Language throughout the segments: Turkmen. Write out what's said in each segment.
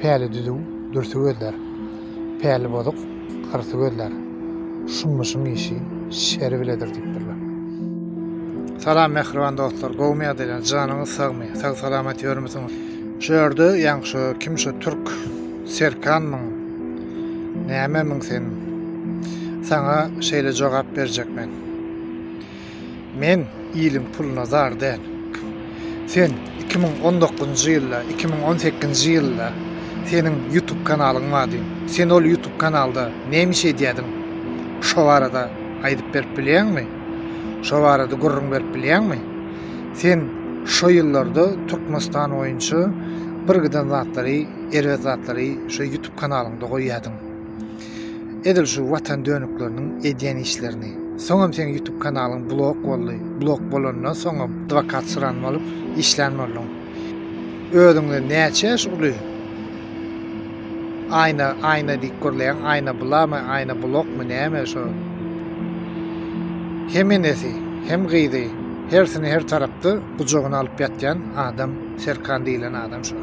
Päli düzüw, dürsi gözlär. Päli bozuk, hyrsy gözlär. Şummuşyň işi şeri biledir diýipdirler. Salam mähriban dostlar gowmy ýagdaýlaryňyz janyňyz sagmy sag salamat ýörmüsiňiz şu ýerde ýaňy şu kim şu türk serkanmyň nämemiň sen saňa şeýle jogap berjek men Men iliň puluna zar däl. Sen iki müň on dokuzynjy ýylda, iki müň on sekizinji ýylda seniň ýutup kanalyň bardy. Sen ol ýutup kanalda näme iş edýärdiň? Şo barada aýdyp berip bilýäňmi? Şo barada gürrüň berip bilýäňmi? Sen şo ýyllarda Türkmenistan boýunça bir giden zatlary, erbet zatlary şo ýutup kanalyňda goýýardyň. Edil şu watan dönükleriniň edýän işlerini. Soňam seň ýutub kanalyň blok boldy, blok bolandan soňam dwakat syran bolup işlän bolduň. Özüňden näçe ýaş uly Aýna Aýna diýip gürleýäň Aýna bulamy Aýna blokmy näme şo hem enesi hem gyzy hersini her tarapda gujagyna alyp ýatýan adam Serkan diýilen adam şo.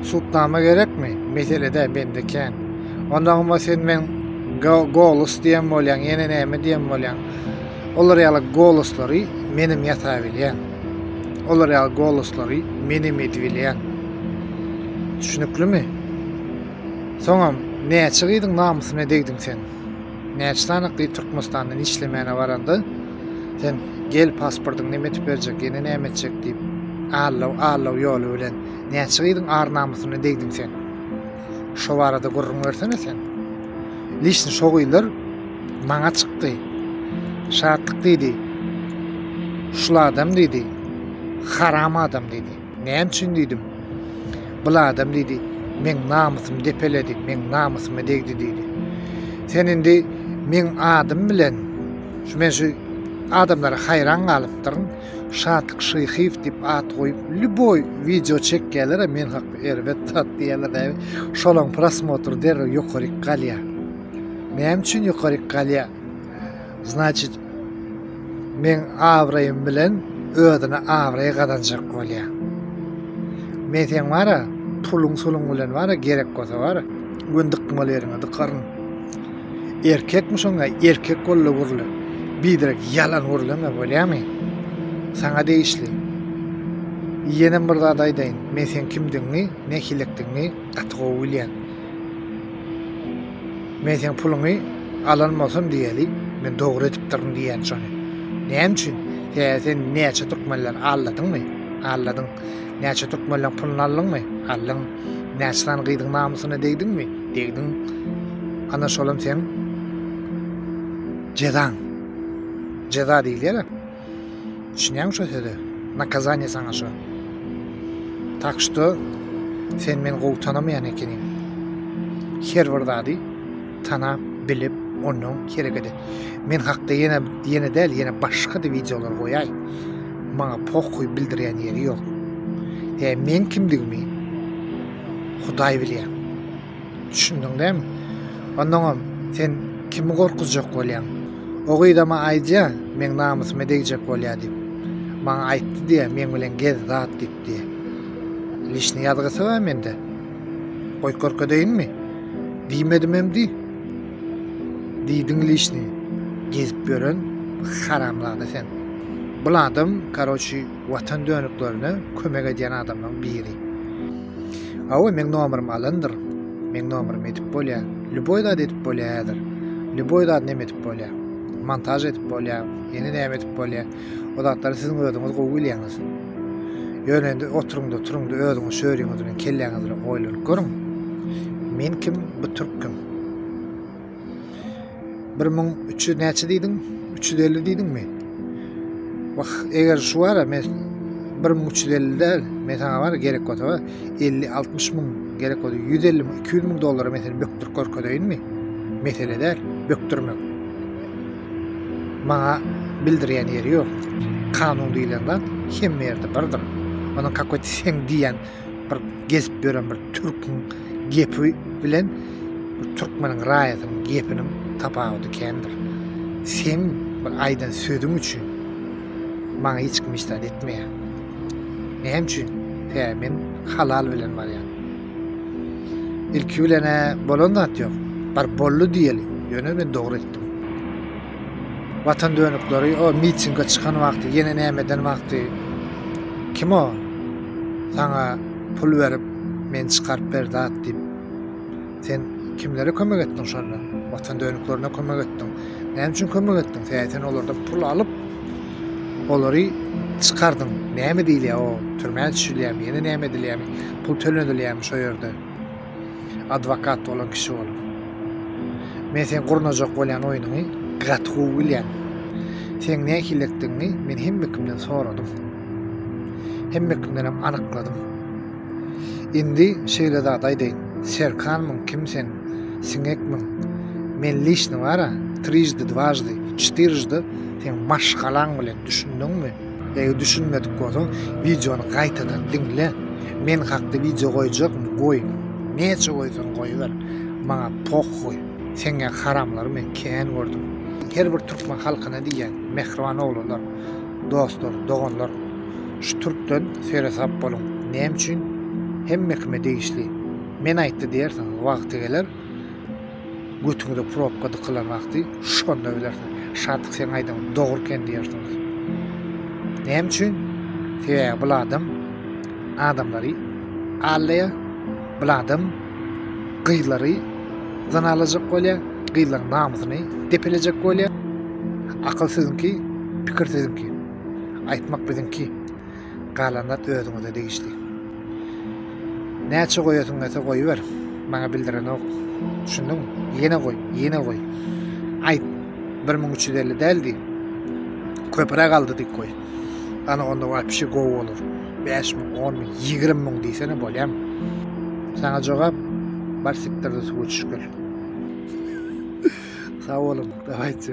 Sudnama gerekmi? Meselede bende kän. Ondagyma sen men golus diýen bolýaň, ýene näme diýen bolýaň. Olar ýaly goluslary menem ýasa bilýän. Olar ýaly goluslary menem edibilýän. Düşüniklimi? Soňam näçe gyzyň namysyna degdiň sen? Näçe sanyk diýip Türkmenistandan işlemäne baranda sen gel pasportyňy neme etip berjek ýene näme etjek diýip allaw allaw ýoly bilen näçe gyzyň ar namysyna degdiň sen şo barada gürrüň bersene sen lişni şo gyzlar maňa çykdy şatlyk diýdi şul adam diýdi haram adam diýdi Näme üçin diýdim. Bul adam diýdi, meň namysymy depeledi, meň namysyma degdi diýdi. Sen indi meň adym bilen şu men şu adamlara haýran galypdyryn. Şatlyk Şyhyýew diýip at goýup, lýuboý wideo çekýärler, men hakda erbet zat diýýärler. Şolaryň prosmotry derrew ýokaryk galýar. Näme üçin ýokaryk galýar? Значit men abraýym bilen özüne abraý gazanjak bolýa. Men sen bara puluň suluň bilen bara gerek bolsa bara gün dykmal ýeriňe dykaryn. Erkekmi şoňa erkek bolly gurly. Bidirek ýalan gurlama bolýamy? Saňa degişli. Ýene bir zat aýdaýyn. Men sen kimdigiňi, ne hilikdigiňi gaty gowy bilýän. Men seň puluňy alan bolsam diýeli, men dogry edipdirin diýýän şony. Näme üçin? Sebäbi sen näçe türkmenleri aldadyňmy? Aldadyň. Näçe türkmenleriň puluny aldyňmy? Aldyň. Näçe sany gyzyň namysyna degdiňmi? Degdiň. Ana şolam seň jezaň. Jeza diýilýär-ä. Düşünýäňmi şo söze? Nakazaniýe saňa şo. Tak şto sen meni gowy tanamaýan ekeniň. Her bir zady tanap, bilip, ondan hereket et. Men hakda ýene ýene däl, ýene başga-da wideolar goýaý. Maňa pohuý bildirýän ýeri ýok. Ýa men kimdigimi Hudaý bilýär. Düşündiň dämi? Onnoňam sen kimi gorkuzjak bolýaň? O gyzama aýdýa, meň namysyma degjek bolýa diýip. Maňa aýtdy diýe, meň bilen gez, zat diýip diýe. Lişni ýazgysy bar mende. Goý görkezeýinmi? Diýmedimem diý. Diýdiň lişni. Gezip ýören haramzada sen. Bul adam, karoçi, Watan dönüklerine kömek edýän adamlaň biri. Awa meň nomerym alandyr. Meň nomerym edip bolýa. Lýuboý zat edip bolýa häzir. Lýuboý zat neme edip bolýa. Montaž edip bolýa. Ýene näme edip bolýa. O zatlary siziň özüňiz gowy bilýäňiz. Ýöne indi oturyňda turuňda özüňiz şöriňiz bilen kelläňiz bilen oýlanyp görüň. Men kim bu türk kim. Bir müň üç ýüz näçe diýdiň? Üç ýüz elli diýdiňmi? Wah, eger şu bara men bir müň üç ýüz elli däl, men saňa bara gerek bolsa elli, altmyş müň gerek bolsa ýüz elli müň, iki ýüz müň dollara men seni bökdürip görkezeýinmi? Mesele däl, bökdürmek. Maňa bildirýän ýeri ýok. Kanun diýlen zat hemme ýerde birdir. Onuň kakoty sen diýýän bir gezip ýören bir türküň gepi bilen bir türkmeniň raýatynyň gepiniň tapawudy kändir. Seň bir aýdan sözüň üçin maňa hiç kim hiç zat etmeýär. Näme üçin? Hä, men halal bilen barýan. Ilki bilen-ä bolan zat ýok. Bir boldy diýeli. Ýöne men dogry etdim. Watan dönükleri o mitinge çykan wagty ýene näme eden wagty kim o saňa pul berip men çykaryp ber zat diýip sen kimlere kömek etdiň şonda watan dönüklerine kömek etdiň näme üçin kömek etdiň sen sen olardan pul alyp olary çykardyň näme diýilýär o türmä düşülýärmi ýene näme edilýärmi pul tölenilýärmi şo ýerde Adwokat bolan kişi bolup. Men sen gurnajak bolýan oýnuňy gaty gowy bilýän. Sen nähillikdigiňi men hemme kimden soradym. Hemme kimdenem anykladym. Indi şeýle zat aýdaýyn. Serkanmyň kim sen? Siňekmiň? Men lişni bara, trijdi dwajdi, çtyryjdy sen maşgalaň bilen, düşündiňmi? Eger düşünmedik bolsaň wideony gaýtadan diňle. Men hakda wideo goýjakmy? Goý. Näçe goýsaň goýber. Maňa pohuý. Seňňä haramlary men kän gördüm. Her bir türkmen halkyna diýýän mähriban oglanlar, dostlar, doganlar şu türkden seresap boluň. Näme üçin? Hemme kime degişli. Men aýtdy diýersiň wagty geler. Götüňize probka dykylan wagty şonda bilersiňiz. Şadyk seň aýdan dogry eken diýersiňiz. Näme üçin? Sebäbi bul adam adamlary allaya, bul adam gyzlary zan alajak bolýar, gyzlaryň namysyny depelejek bolýar. Akyl siziňki, pikir siziňki. Aýtmak biziňki. galan zat özüňize degişli. Näçe goýasyň gelse goýber, maňa bildirenok. Düşündiňmi? Ýene goý, ýene goý. Aýt, 1350 däldi. Köpüre galdy diýip goý. Ana onda wapşi gowy bolar. 5 müň, 10 müň, 20 müň diýsene bolýam. Saňa jogap bar siktirde suwa düşgül. Sag boluň, dawaýçy.